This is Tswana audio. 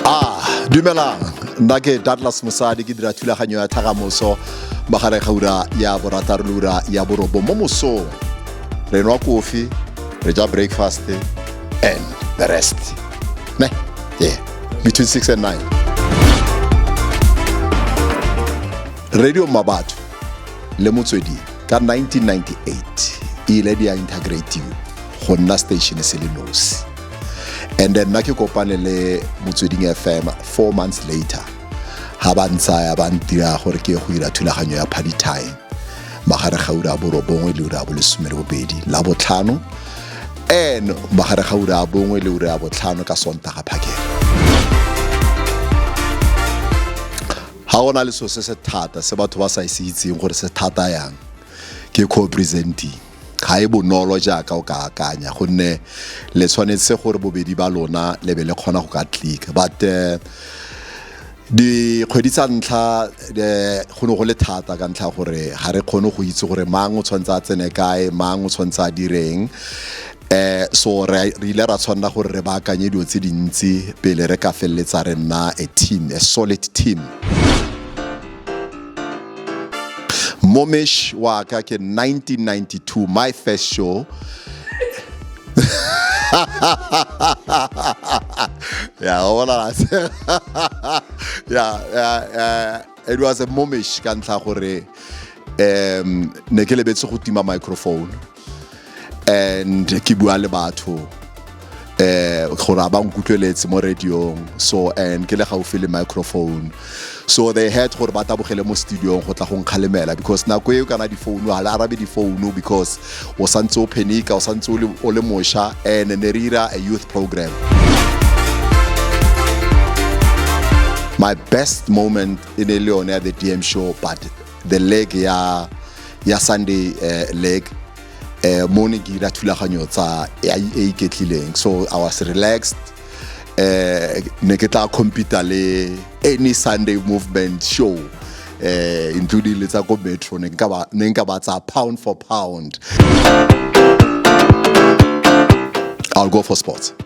Ah, dumelang nna ke douglas mosadi ke dira thulaganyo ya thagamoso magareng ga ura ya borataro le ura ya borobo mo mosong re nwa kofi re ja breakfast and the rest ne yeah between 6 and 9 radio mabatho le motswedi ka 1998 e ile di a integrative go nna station se le nosi and then nna ke kopane le motsweding fm four months later ga ba ntsaya ba ntira gore ke go ira thulaganyo ya party time magare ga ura bo robongwe le ura bo lesome le bobedi la botlhano and magare ga ura bongwe le ura ya botlhano ka sontaga phakela ga go na le selo se se thata se batho ba sa e se itseng gore se thata yang ke co-presenting ga e bonolo jaaka o ka akanya gonne le tshwanetse gore bobedi ba lona le be le kgona go ka tlika but eh, dikgwedi tsa ntlha eh, go ne go le thata ka ntlha gore ga re kgone go itse gore mang o tshwanetse a tsene kae mang o tshwanetse a direng eh so re ile ra tshwanela gore re baakanye dilo tse dintsi pele re ka feleletsa re nna a team a solid team momesh wa ka ke 1992 my first show ya bona ya ya it was a momesh ka ntlha gore um ne ke lebetse go tima microphone and ke bua le batho eh gore ba nkutlweletse mo radiong so and ke le gaufi le microphone so they had gore ba tabogele mo studiong go tla go nkgalemela because nako eo kana difounu ga le arabe difounu because o santse o phenika o santse o le mosha and ne re ira a youth program my best moment in e le yone ya the dm show but the leg ya ya sunday uh, leg uh, mo ne ke dira thulaganyo tsa e e iketlileng so i was relaxed uh, ne ke tla compete le any sunday movement show eh including le tsa ko metro ne nka ba ne nka ba tsa pound for pound i'll go for sports